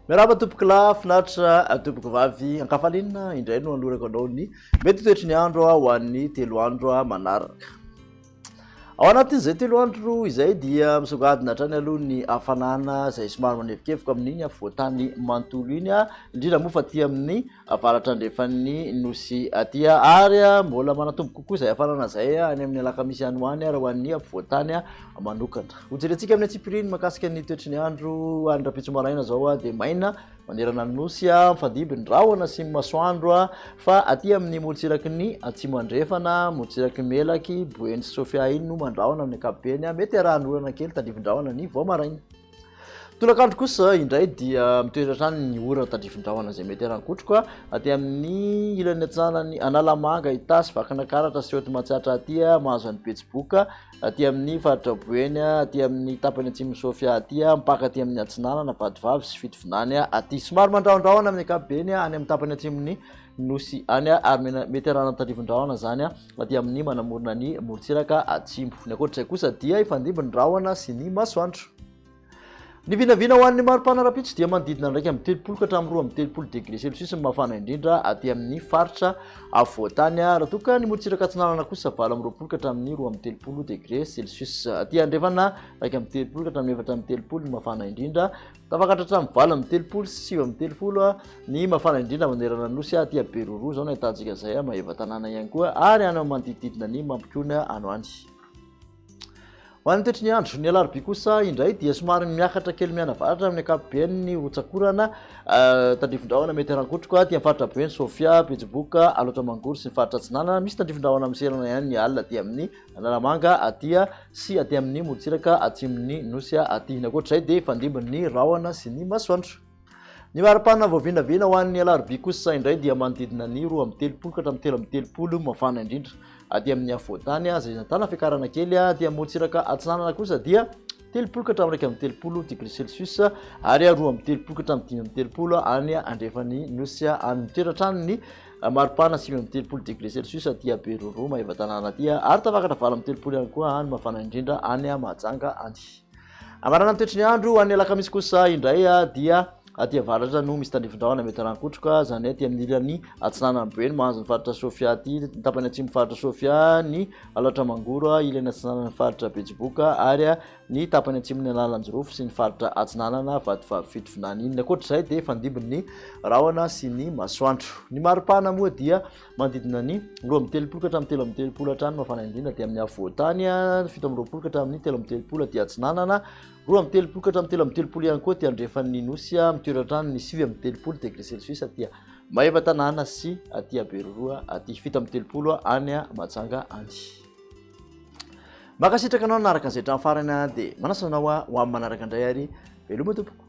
Miarahaba tompoko lahy, finaritra tompoko vavy. Ankafalinina indray no anolorako anao ny mety toetry ny andro ho an'ny telo andro manaraka. Ao anatin'izay telo andro izay dia misongadina hatrany aloha ny hafanana izay somary manevokevoka amin'iny afovoantany manontolo iny, indrindra moa fa aty amin'ny avaratra andrefan'ny nosy aty. Ary mbola manatombo kokoa izay hafanana izay any amin'ny alakamisy any ho any raha ho an'ny afovoantany manokana. Hojerentsika amin'ny antsipiriany mahakasika ny toetry ny andro any rahampitso maraina izao dia maina. Manerana ny nosy, mifandimby ny rahona sy ny masoandro, fa aty amin' ny morontsiraky ny Atsimo Andrefana, morontsiraky ny Melaky, Boeny sy Sofia iny no mandrahona amin' ny ankapobeny, mety arahan' orana kely tandrifin-drahona ny vao maraina. Tolak' andro kosa indray dia mitoetra hatrany ny orana tandrifin-drahona izay mety arahan-kotroka aty amin' ny ilany atsaran' ny Analamanga, Itasy, Vakinakaratra sy Haute Matsiatra aty, mahazo an' i Betsiboka, aty amin'ny faritra Boeny, aty amin'ny tapany atsimon'i Sofia aty, mpaka aty amin'ny atsinanana, vadivavy sy fitovinany aty. Somary mandrahondrahona amin'ny ankapobeny any amin'ny tapany atsimon'ny nosy any, ary mety arahana tandrifin-drahona izany aty amin'ny manamorona ny morontsiraka atsimo. Ny ankoatr'izay kosa dia hifandimby ny rahona sy ny masoandro. Ny vinavina ho an'ny maripana rahampitso dia manodidina ny iraika amby telopolo ka hatramin'ny roa amby telopolo degré celsius ny mafana indrindra aty amin'ny faritra afovoantany. Raha toa ka ny morontsiraka atsinanana kosa valo amby roapolo ka hatramin'ny roa amby telopolo degré celsius. Aty andrefana iraika amby telopolo ka hatramin'ny efatra amby telopolo ny mafana indrindra. Tafakatra hatramin'ny valo amby telopolo sy sivy amby telopolo ny mafana indrindra manerana ny nosy aty Beroroa izao no ahitantsika izay Maevatanàna ihany koa ary any amin'ny manodidididina ny Mampikony any ho any. Ho an'ny toetry ny andro, ny alarobia kosa indray dia somary miakatra kely mianavaratra amin'ny ankapobeny ny hotsakorana euh, tandrifin-drahona mety harankotroka aty amin'ny faritra be ny Sofia, Betsiboka, Alaotra Mangoro sy ny faritra atsinanana. Misy tandrifin-drahona miserana ihany ny alina aty amin'ny Analamanga atia sy aty amin'ny morontsiraka atsimon'ny nosy aty. Ny ankoatr'izay dia fandimbin'ny rahona sy ny masoandro. Ny mari-pana voavinavina ho an'ny alarobia kosa indray dia manodidina ny roa amby telopolo ka hatramin'ny telo amby telopolo mafana indrindra aty amin'ny afovoan-tany izay nahitana fiakarana kely aty amorontsiraka atsinanana kosa dia telopolo ka hatramin'ny iraika amby telopolo degré celsius ary roa amby telopolo ka hatramin'ny dimy amby telopolo any andrefan'ny nosy any mitoetra hatrany ny mari-pana sivy amby telopolo degré celsius aty Beroroa Maevatanàna aty ary tafakatra valo amby telopolo ihany koa any mafana indrindra any Mahajanga any Hamarana ny toetry ny andro ho an'ny alakamisy kosa indray dia aty avaratra no misy tandrifin-drahona mety harankotroka, izany aty amin'ny ilany atsinanan'ny Boeny mahazo ny faritra Sofia aty, ny tapany atsimon'ny faritra Sofia, ny Alaotra Mangoro, ilany atsinanan'ny faritra Betsiboka ary ny tapany atsimon'ny Analanjirofo sy ny faritra atsinanana Vatovavy Fitovinany. Ny ankoatr'izay dia fandimby ny rahona sy ny masoandro. Ny maripana moa dia Manodidina ny roa amby telopolo ka hatramin'ny telo amby telopolo hatrany no mafana indrindra, dia amin'ny afovoan-tany ny fito amby roapolo ka hatramin'ny telo amby telopolo aty atsinanana, roa amby telopolo ka hatramin'ny telo amby telopolo ihany koa aty andrefan'ny nosy, mitoetra hatrany ny sivy amby telopolo degré celsius aty Maevatanàna sy aty Beroroha aty, fito amby telopolo any Mahajanga any. Mankasitraka anao nanaraka an'izay hatramin'ny farany aho dia manasa anao aho ho amin'ny manaraka indray ary veloma tompoko.